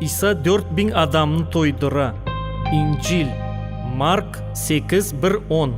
İsa dört biñ adamnı toydıra. İncil, Mark sekiz bir on.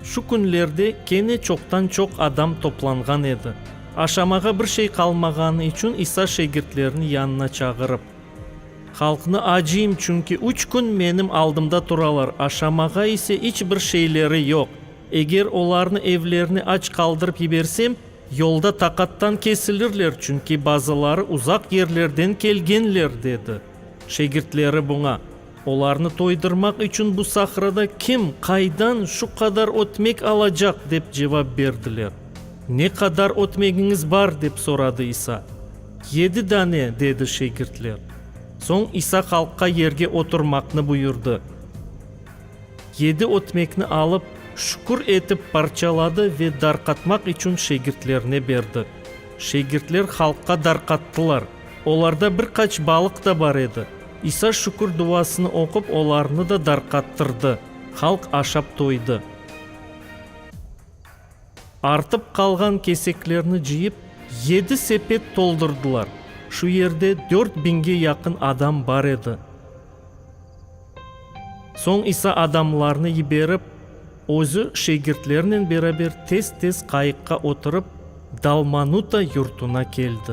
Şu künlerde kene çoqtan-çoq adam toplanğan edi. Aşamağa bir şey qalmağanı içün İsa şegirtlerini yanına çağırıp. Halqnı acıyım, çünki üç kün menim aldımda turalar, aşamağa ise iç bir şeyleri yoq. Eger olarnı evlerine aç qaldırıp yibersem, yolda taqattan kesilirler, çünki bazıları uzaq yerlerden kelgenler, dedi. Şegirtleri buña. Olarnı toydırmaq içün bu sahrada kim, qaydan şu qadar ötmek alacaq? dep cevap berdiler. Ne qadar ötmegiñiz bar? dep soradı İsa. Yedi dane, dedi şegirtler. Soñ İsa halqqa yerge oturmaqnı buyurdı. Yedi ötmekni alıp, şükür etip parçaladı ve darqatmaq içün şegirtlerine berdi. Şegirtler halqqa darqattılar. Olarda bir qaç balıq da bar edi. İsa şükür duasını oqup olarnı da darqattırdı. Halq aşap toydı. Artıp qalğan keseklerni cıyıp, yedi sepet toldurdılar. Şu yerde dört biñge yaqın adam bar edi. Soñ İsa adamlarnı yiberip, özü şegirtlerinen beraber tez-tez qayıqqa oturıp, Dalmanuta yurtuna keldi.